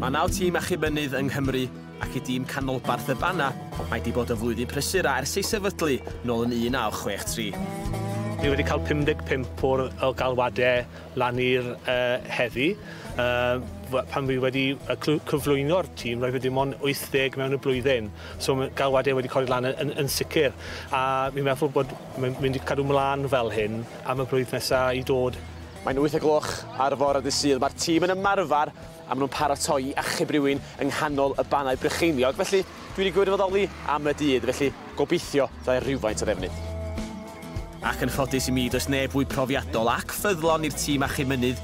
Mae naw tîm achub mynydd yng Nghymru ac i dîm canolbarth y Bana, mae di bod yn flwyddyn prysur a ers ei sefydlu nôl yn 1963. Ni wedi cael 55 o'r o galwadau lan i'r uh, heddi. Uh, pan fi wedi cyflwyno'r tîm, roedd wedi mon 80 mewn y blwyddyn. So galwadau wedi codi lan yn, yn, yn sicr. A fi'n meddwl bod Mae'n mynd i cadw mlaen fel hyn am y blwydd nesa i dod. Mae'n wyth o gloch ar fore dydd Sul, mae'r tîm yn ymarfer a maen nhw'n paratoi i achub rhywun yng nghanol y Bannau Brycheiniog, felly dwi wedi gwirfoddoli am y dydd, felly gobeithio fyddai rhywfaint o ddefnydd. Ac yn ffodus i mi, does neb fwy profiadol ac ffyddlon i'r tîm achub mynydd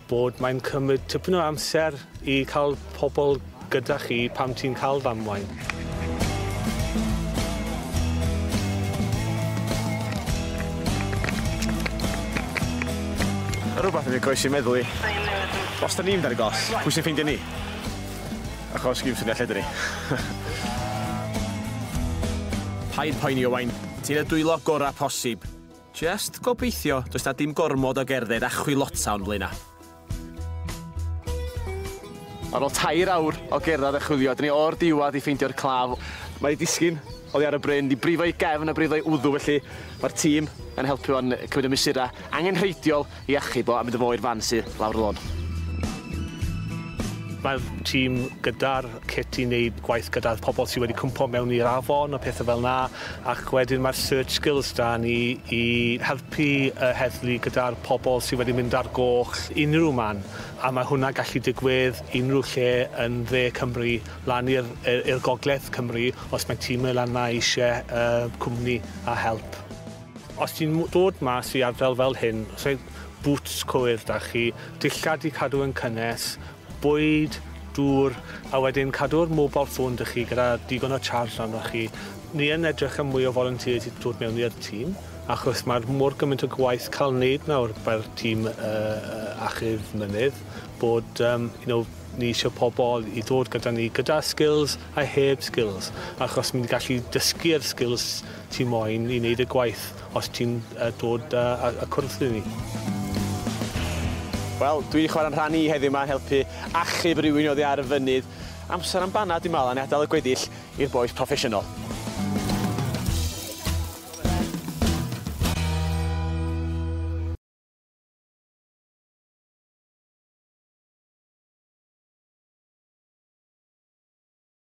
Bod mae'n cymryd tipyn o amser i cael pobl gyda chi pam ti'n cael ddamwain. Rhywbeth yn ei groes i'n meddwl i. Os da ni'n mynd ar y gos, pwy sy'n ffeindio ni? Achos gym syniad lle dyn ni. Paid poeni, Owain. Ti'n y dwylo gorau posib. Jyst gobeithio does 'na dim gormod o gerdded a chwilota o'n blaena'. Ar ôl tair awr o gerdded a chwilio, dyn ni o'r diwadd i ffeindio'r claf. Mae ei disgyn oddi ar y bryn, di brifo ei gefn a brifo ei wddw felly mae'r tîm yn helpu fo'n cymryd y mesurau angenrheidiol I achub o a mynd â fo i'r fan sy lawr y lôn. Mae'r tîm gyda'r cit i wneud gwaith gyda'r pobl sydd wedi cwmpo mewn i'r afon a pethau fel 'na ac wedyn mae'r search skills 'da ni i helpu y heddlu gyda'r pobl sydd wedi mynd ar goll unrhyw man a mae hwnna'n gallu digwydd unrhyw lle yn dde Cymru lan i'r i'r gogledd Cymru os mae tîm lan 'na eisiau yy cwmni a help. Os ti'n dod mas i ardal fel hyn, rhaid bŵts cywir 'da chi, dillad i cadw yn cynnes, bwyd, dŵr, a wedyn cadw'r mobile phone 'da chi gyda digon o charge arnoch chi. Ni yn edrych am mwy o volunteers i dod mewn i'r tîm, achos mae'r mor gymaint o gwaith cael neud nawr fel tîm uh, achub mynydd, bod um, you know, ni eisiau pobl i ddod gyda ni gyda skills a heb skills, achos mynd i gallu dysgu'r skills Ti moyn i wneud y gwaith os ti'n yy dod yy a cwrdd â ni. Wel, dwi 'di chwara'n rhan i heddiw 'ma yn helpu achub rywun oddi ar y fynydd. Amser am banad dwi'n me'wl a ni adal y gweddill i'r bois proffesiynol.